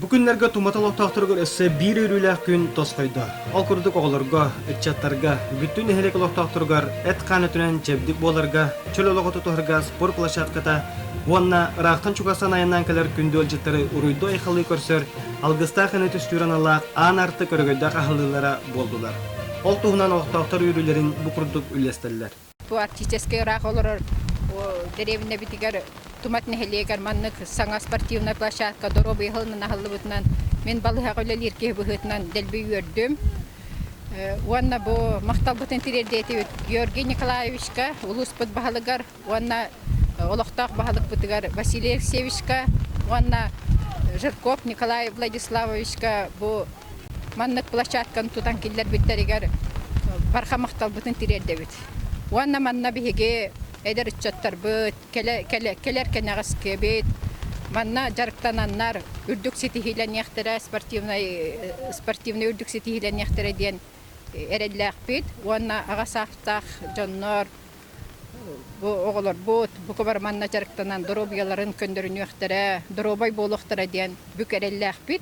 Бу күннэргэ Туматал олохтоохторугар өссө биир үөрүүлээх күн тосхойдо. Ол курдук оҕолорго, ыччаттарга, бүттүү нэһилиэк олохтоохторугар эт-хаан өтүнэн чэбдик буоларга, чөл олоҕу тутуһарга спорт площадката уонна ыраахтан чугастан айаннаан кэлэр күндү ыалдьыттары уруйдуу-айхалыы көрсөр алгыстаах ыны түстүүр аналаах аан артык өрөгөйдөөх аһыллыылара буоллулар. Ол туһунан олохтоохтор үөрүүлэрин бу курдук үллэстэллэр. арктическай ыраах олорор дэриэбинэбитигэр Тумат нэһилиэгэр маннык саҥа спортивная площадка доруобуйа иһитинэн аһыллыбытынан мин балыһаҕа үлэлиир киһи быһыытынан дэлби үөрдүм уонна бу махталбытын тириэрдиэтибит Георгий Николаевичка улууспут баһылыгар уонна олохтоох баһылыкпытыгар Василий Алексеевичка уонна Жирков Николай Владиславовичка бу Маннык площадканы тутан киллэрбиттэригэр барҕа махталбытын тириэрдэбит. Уонна манна биһиги эдэр ыччаттарбыт, кэлэр кэнэҕэскибит, манна дьарыктананнар үрдүк ситиһиилэниэхтэрэ, спортивнай үрдүк ситиһиилэниэхтэрэ диэн эрэллээхпит уонна аҕа саастаах дьоннор бу оҕолорбут бука бары манна дьарыктанан доруобуйаларын көннөрүнүөхтэрэ, доруобай буолуохтара диэн бүк эрэллээхпит.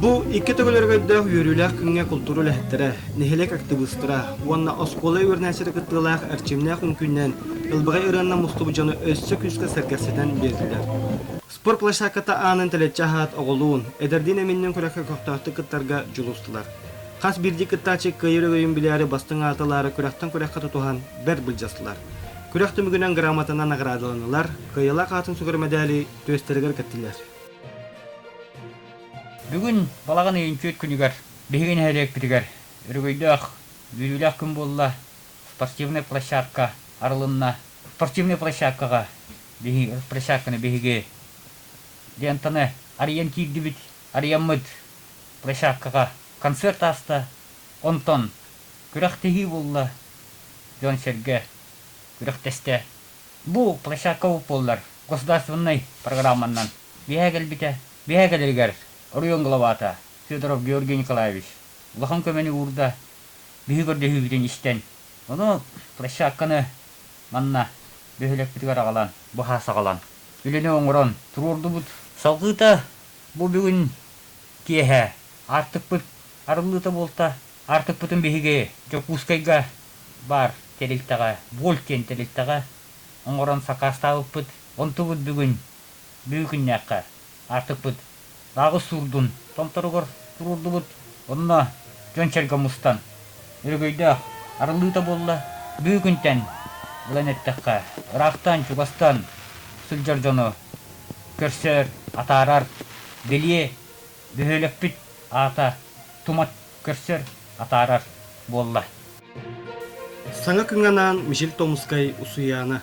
Бу икки төгүллэргэ өрдөөх үөрүүлээх күҥҥэ култуура үлэһиттэрэ, нэһилиэк актыбыыстара уонна оскуола үөрэнээччитэ кыттыылаах эрчимнээх үҥкүүннээн ылбаҕай ырыанна мустубут дьону өссө күүскэ сэргэхситэн биэрдилэр. Спорт площадката аанын тэлэччи аһаат оҕолуун, эдэрдиин эминнин күрэххэ көхтөөхтүк кыттарга дьулустулар. Хас биирдии кыттааччы кыайар өрөйүн билээри бастыҥ аатылаары күрэхтэн күрэххэ тутуһан бэрт былдьастылар. Күрэх түмүгүнэн грамотанан наҕараадаланылар, кыайалаах аатын сүгэр мэдээли түөстэригэр кэттилэр. Бүгүн балаҕан ыйын түөрт күнүгэр биһиги нэһилиэкпитигэр өрөгөйдөөх, бүлүүлээх күн буолла. Спортивная площадка арылынна. Спортивная площадкаҕа биһи, площадканы биһиги лентаны арыйан киирдибит. Арыйаммыт площадкаҕа концерт ааста. Онтон күрэхтэһии буолла. Дьон-сэргэ күрэхтэстэ. Бу площадка уп буоллар государственнай программаннан биэһэ кэлбитэ. Биэһэ кэлэригэр оройуон главата Федоров Георгий Николаевич улахан көмөнү уурда, биһи көрдөһүүбүтүн истэн, ону площадканы манна бөһүөлэкпитигэр аҕалан, быһа саҕалан, үлэни оҥорон туруордубут. Салгыыта бу бүгүн киэһэ аартыкпыт арыллыыта буолта, Аартыкпытын биһиги Дьокуускайга баар тэрилтэҕэ Вольт диэн тэрилтэҕэ оҥорон сакаастаабыппыт. Онтубут бүгүн бүгүҥҥү күннээххэ аартыкпыт Баҕыс Суурдун Томторугар туруордубут. Онно дьон-сэргэ мустан өрөгөйдөөх арыллыыта буолла. Бүгүҥҥү күнтэн ылан эттэххэ, ыраахтан-чугастан сылдьар дьону көрсөр, атаарар, бэлиэ Бөһүөлэкпит аата тумат көрсөр, атаарар буолла. Саҥа кыҥанаан Мишель Томскай Усуйаана.